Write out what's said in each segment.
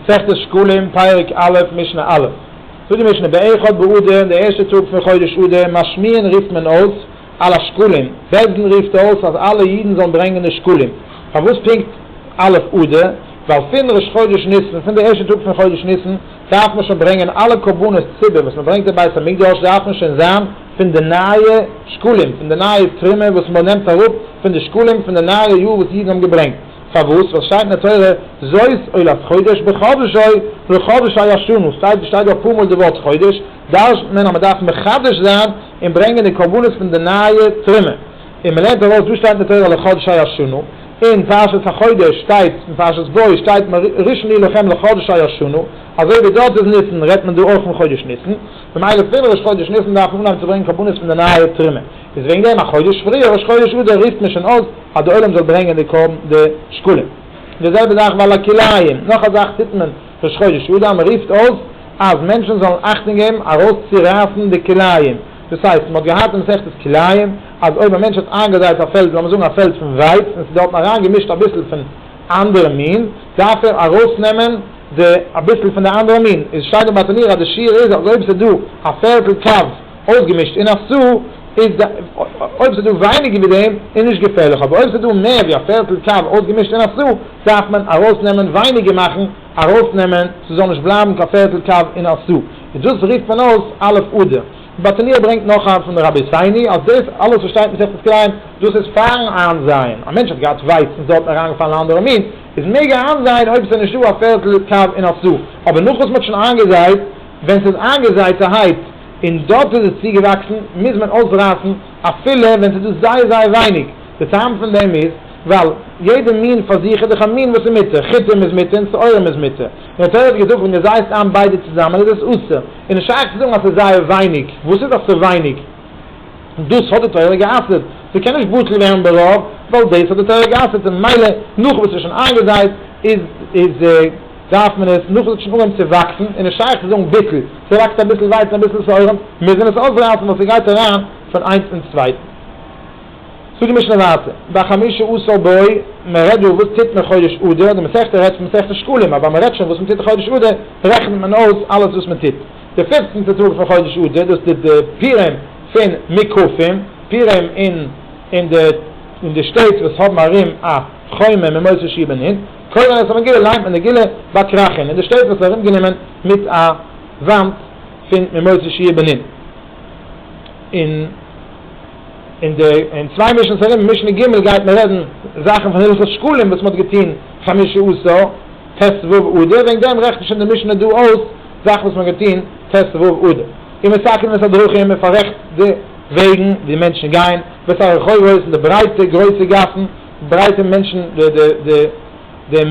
מסכת שקלים, פרק א', משנה א', זאגט די משנה, באחד באדר, אין די ערשטע טאג פון חודש אדר, משמיעין רופט מען אויס על השקלים, בית דין רופט אויס אז אלע אידן זאלן ברענגען די שקלים, פארוואס פונקט א' אדר, ווייל פון ראש חודש ניסן, פון די ערשטע טאג פון חודש ניסן, דארף מען שוין ברענגען אלע קרבנות ציבור וואס מען ברענגט אין בית המקדש דארף מען שוין זיין פון די נייע שקלים, פון די נייע תרומה וואס מנעמט אראפ פון די שקלים פון די נייע יאר וואס אידן האבן געברענגט. פארוואס? ווייל עס שטייט אין די תורה זאת עולת חודש בחדשו ולחדשי ישנו, שטייט דא שטייט דא אפאר מאל די ווארט חודש, דרש'נט מען אז מען דארף מחדש זיין און ברענגען די קרבנות פון די נייע תרומה, און מען לערנט ארויס דא שטייט אין די תורה לחדשי ישנו, אין פרשת החודש שטייט אין פרשת בוא שטייט מראשון איר לכם לחדשי ישנו, אזוי ווי דארט איז ניסן רעדט מען דא אויך פון חודש ניסן, ממילא פון ראש חודש ניסן דארף מען אנהייבן צו ברענגען קרבנות פון די נייע תרומה, איז וועגן דעם א חודש פריער ראש חודש אדר רופט מען שוין אויס אז די עולם זאל ברענגען די קרבן די שקלים, די זעלבע זאך ועל הכלאיים, נאך א זאך טוט מען ראש חודש אדר, מען רופט אויס אז מענטשן זאלן אכטונג געבן ארויס צו רייסן די כלאיים, דאס הייסט מען האט געהאט אין מסכת כלאיים אז אויב א מענטש האט איינגעזייט א פעלד לאמיר זאגן א פעלד פון ווייץ און ס'איז דארטן אריין געמישט אביסל פון אנדערע מין דארף ער ארויס נעמען די אביסל פון די אנדערע מין, איז שטייט דא ביי תניא אז די שיעור איז אז אויב ס'איז דא א פערטל קו. אויסגעמישט אין א סו איז די אויב ס'דא ווייניגער ווי דעם איז נישט געפערליך אבער אויב ס'דא מער ווי א פערטל קו אויסגעמישט אין א סו דארף מען ארויסנעמען ווייניגער מאכן ארויסנעמען ס'זאל נישט בלייבן קיין פערטל קו אין א סו איז דאס רופט מען אויס א' אדר באטניר ברענגט נאך א פון רבי סייני אז דאס אלעס וואס שטייט מסכת כלאים דאס איז פארן איינזייען א מענטש האט געהאט ווייץ און ס'האט אריינגעפאלן א אנדערע מין איז מעג ער איינזייען אויב ס'איז נישטא א פערטל קו אין א סו אבער נאך וואס מ'האט שוין איינגעזייט ווען ס'איז איינגעזייטערהייט און דארט וואו עס איז צוגעוואקסן מוז מען אויסרייסן אפילו ווען ס'איז דא זייער זייער ווייניג, די טעם פון דעם איז ווייל יעדע מין פאר זיך איז דאך א מין וואס איז מותר, חיטים איז מותר און שעורים איז מותר, און די תורה האט געזאגט ווען דו זייסט איין ביידע צוזאמען איז עס אסור, איז נישט שייך צו זאגן אז ס'איז זייער ווייניג, וואס איז דאך ס'איז ווייניג? דאס האט די תורה גע'אסר'ט, ס'קען נישט בטל ווערן ברוב ווייל דאס האט די תורה גע'אסר'ט און ממילא נאכן וואס ס'איז שוין איינגעזייט איז איז. דארף מען עס נאכן עס האט שוין אנגעהויבן צו וואקסן איז נישט שייך צו זאגן ביטול, ס'וואקסט אביסל ווייץ און אביסל סארעם מוז מען עס אויסרייסן ווייל ס'גייט אריין פון איינס אין צווייטן. זאגט די משנה ווייטער, בחמשה עשר בואי, מען רעדט דא וואס טוט מען חודש אדר, די מסכתא רעדט פון מסכת שקלים אבער מען רעדט שוין וואס מען טוט חודש אדר רעכנט מען אויס אלעס וואס מען טוט די פופצנטע טאג פון חודש אדר דאס טוט די פורים פון מוקפים, פורים אין אין די שטעט וואס האבן ארום א חומה ממוצע שבעים און. קודם ווען עס האט מען געליינט מיט די געלע באקראכען און די שטעט וואס ארום גענומען מיט א וואנט פון ממוצע שיעור בנין און און די און צוויי משנ ס ארום משנה ג' גייט מען רעדן זאכן פון הלכות שקלים וואס מען האט געטוהן חמשה עשר ט ו אדר וועגן דעם רעכנט שוין די משנה דא אויס זאכן וואס מען האט געטוהן ט ו אדר און מסכם את הדרכים מען פאררעכט די וועגן ווי מענטשן גייען ואת הרחובות און די ברייטע גרויסע גאסן. ברייטע מענטשן די די די די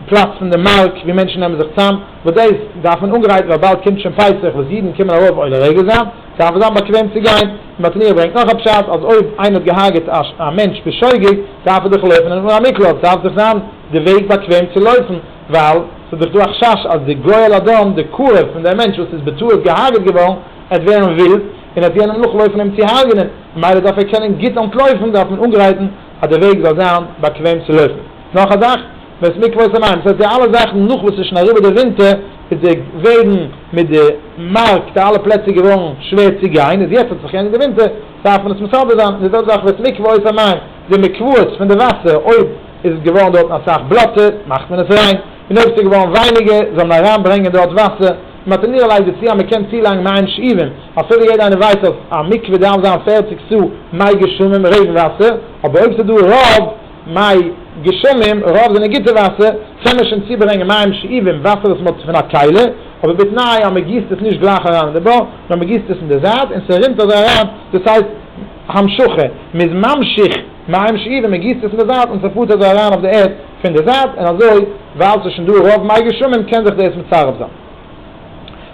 פלאץ פון די מארק ווי מענטשן נעמען זיך צאם וואס דעיס דארף מען אנגרייטן ווייל באלד קומט שוין פסח וואס אידן קומען ארויף אויל הרגל זיין דארף עס זיין באקוועם צו גיין און מתניהו ברענגט נאך א פשט אז אויב איינער האט געהארגעט א מענטש בשוגג דארף ער דאך לויפן און אן א מקלט דארף דאך זיין די וועג באקוועם צו לויפן ווייל ס'איז דאך דא א חשש אז די גואל אדון די קרוב פון דעם מענטש וואס איז בטעות געהארגעט געווארן עט ווערן ווילד און עט יענעם נאכלויפן אים צו הארגענען. ממילא דארף ער קענען גוט אנטלויפן, דארף מען אנגרייטן אז די וועג זאל זיין באקוועם צו לויפן. נאך א זאך, בית מקוואות און מים, דאס הייסט די אלע זאכן נאך וואס איז שוין אריבער די ווינטער, איז די וועגן מיט די מארק די אלע פלעצער געווארן שווער צו גיין, איז יעצט האט זיך געענדיגט די ווינטער דארף מען עס מסדר זיין, די זעלבע זאך בית מקוואות און מים, די מקוואות פון די וואסער אויב איז געווארן דארטן אסאך בלאטע מאכט מען עס ריין, און אויב ס'איז געווארן ווייניגער זאל מען אריין ברענגען דארט וואסער, מען האט אינערלייגט דערצו אז מען קען צולייגן מים שאובים, אפילו יעדער איינער ווייסט אז א מקווה דארף זיין פֿערציק סו מ גשמים, רעגן וואסער, אבער אויב ס'איז דא רוב מ גשמים, רוב זענען גוטע וואסער, קען מען שוין צוברענגען מים שאובים, וואסער וואס מען האט פון א קעלער, אבער בתנאי אז מען גיסט עס נישט גלייך אריין אין די בור, נאר מען גיסט עס אין די זייט און ס'רינט אזוי אריין, דאס הייסט המשכה, מען איז ממשיך מים שאובים, מען גיסט עס אין די זייט און ס'פארט אזוי אריין אויף די ערד. פון די זייט און אזוי ווייל ס'איז שוין דא רוב מי גשמים קען זיך דאס מצרף זיין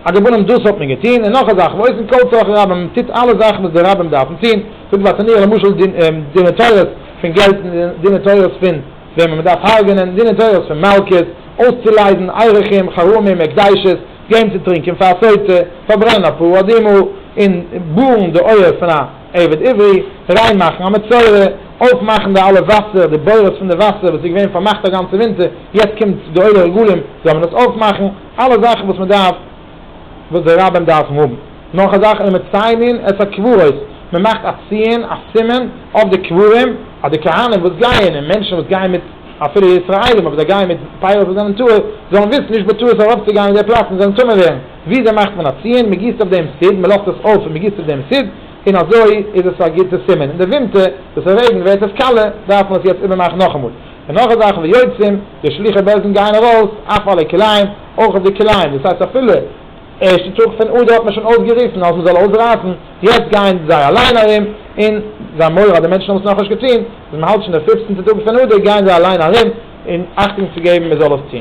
א געבונעם דאס האט מען געטון און נאך א זאך ועושים כל צרכי רבים מען טוט אלע זאכן וואס די רבים דארפן טון זאגט וואס עניו למשל דיני תורות פון געלט דיני תורות פון וועמען מען דארף הרג'נען דיני תורות פון מלקות אויסצולייזן ערכים חרמים הקדשות געבן צו טרינקען פאר א סוטה פארברענען אפאר אדמו ר און בארן די אויער פון א. עבד עברי, ריין מאכן א מצורע, אויף מאכן די אלע וואסער, די בורות פון די וואסער וואס איז געווען פארמאכט א גאנצע ווינטער, יעצט קומט די עולי רגלים זאל מען עס אויף מאכן, אלע זאכן וואס מען דארף, וואס די רבים דארפן האבן, נאך א זאך און מציינין את הקברות, מען מאכט א ציון, א סימן, אויף די קברים, אז די כהנים וואס גייען און מענטשן וואס גייען מיט, אפילו ישראלים אבער זיי גייען מיט פייערס וואס זענען טהור, זאלן וויסן נישט בטעות ארויף צו גיין אין די פלאץ און זאלן טמא ווערן. וויאזוי מאכט מען א ציון? מען גיסט אויף דעם סיד, מען לאזט עס אויף און מען גיסט אויף דעם סיד, און אזוי איז עס א גוטע סימן. אין די ווינטער וואס עס רעגנט ווערט עס קאלער, דארף מען עס יעצט איבערמאכן נאכאמאל. און נאך א זאך, ויוצאים, די שלוחי בעלזן גייען ארויס, אויף אלע כלים, אויך אויף די כלים, דאס הייסט אפילו ערשטע טאג פון אדר האט מען שוין אויסגעריסן אז מען זאל אויסרייסן, יעצט גייען זיי אליין ארום, און זיין מוהרא די מענטשן האבן עס נאכנישט געטון, ביז מען האלט שוין די פופצנטע טאג פון אדר גייען זיי אליין ארום, און אכטונג צו געבן מען זאל עס טון.